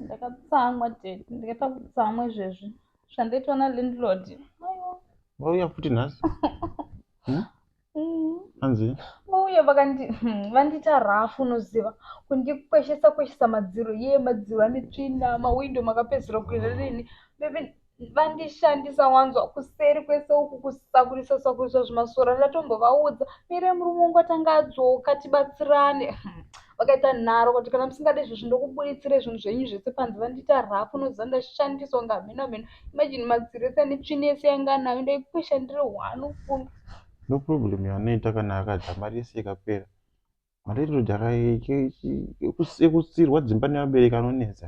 ndakatsamwa tete ndikaita kutsamwa izvezvi zvandaitwa nalandlord vauya futi nhasi hmm? mm. anzi vauya vakandi hmm, vandiita rafu unoziva kundikweshesa kweshesa madziro ye madziro ane tsvina mawindo makapedzera kuenda nini vandishandisa wanzwa kuseri kwese uku kusakurisa sakurisa zvimasora ndatombovaudza mire murume wangu atanga adzoka tibatsirane vakaita nharo kuti kana musingade izvozvi ndokubuditsire zvinhu zvenyu zvese panze vandiita rafu unoziva ndashandiswa kunge hameno hameno imajini madziri ese ane tsvini yese yanga anayo ndaikuishandire hwani ufunge no problem yanoita kana akadya mari yese ikapera Malandlord ekusirwa dzimba nevabereki anonetsa.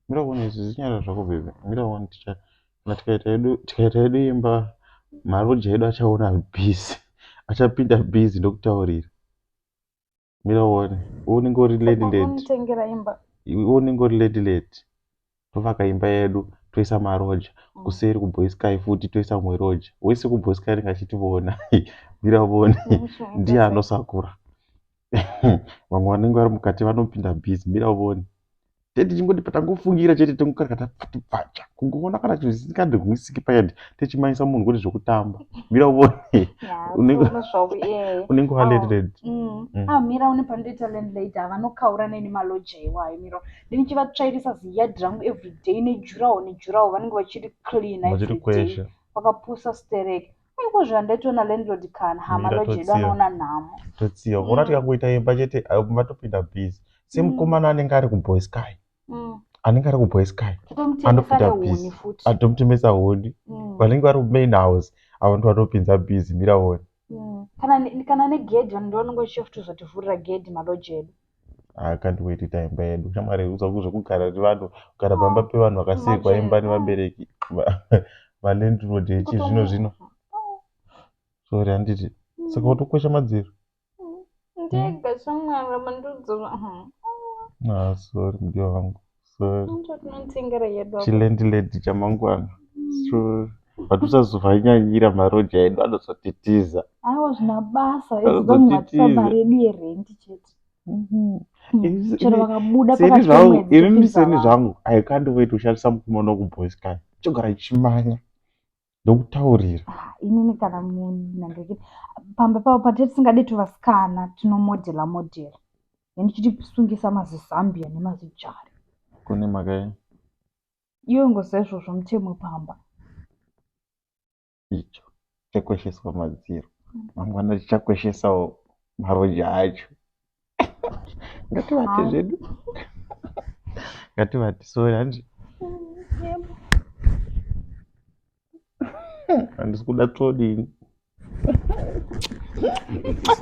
Mira kuona izvi zinyara zvako bebe. Mira kuona ticha kana tikaita yedu tikaita yedu imba maroja edu achaona busy. Achapinda busy ndokutaurira. Mira uone. Unenge uri lady lady. Unenge uri lady lady. tovaka imba yedu toisa maroja mm. kuseri kuboysky futi toisa mumwe roja wese kuboysky anenge achitivona mira vone ndiye anosakura vamwe vanenge vari mukati vanopinda busy mira vone tetichingoti patangofungira chete tongokarakata pfuti pfacha kungoona kana chinhu chisingandirwisiki payad techimanyisa munhu kuti zvekutamba mira uone unenge waledred mira une panotoita landlady havanokaura neni maloja iwayo mira ndichivatsvairisa ziyard rangu everyday nejurawo nejurawo vanenge vachiri clean everyday vakapusa sterek aikozvo andaitoona landlord kana hama lojedu anoona nhamo totsiya mm. vona tikangoita imba chete vatopinda busy semukomana mm. anenge ari kuboys kai mm. anenge ari kuboys kai anopinda busy atomutemesa honi vanenge vari kumain house avo ndo vanopinza busy mira honi kana negedhi vanhu ndovanenge vachitozotivhurira gedhi malojedu I can't wait kuita imba yedu shamwari zvekugara vanhu kugara pamba pevanhu vakasekwa imba nevabereki malandlord echizvino zvino sorry handiti saka utokwesha madziro hmm? ah, sorry mudiwa vangu chilandlady chamangwana so but usazovanyanyira maroja edu anozotitiza aiwa zvina basa imi miseni zvangu aikandivoita kushandisa mukomana wekuboys kai chogara chimanya ndokutaurira Ah, inini kana munhu nandikiti pamba pavo patete tisingade tuvasikana tinomodhela modhela then tichitisungisa mazizambia nemazijari kune mhaka yei iwe ngoziva izvozvo mutemo pamba icho chakwesheswa madziro mangwana tichakweshesawo maroja acho ngativate zvedu ngativate so hanzi handisi kuda todini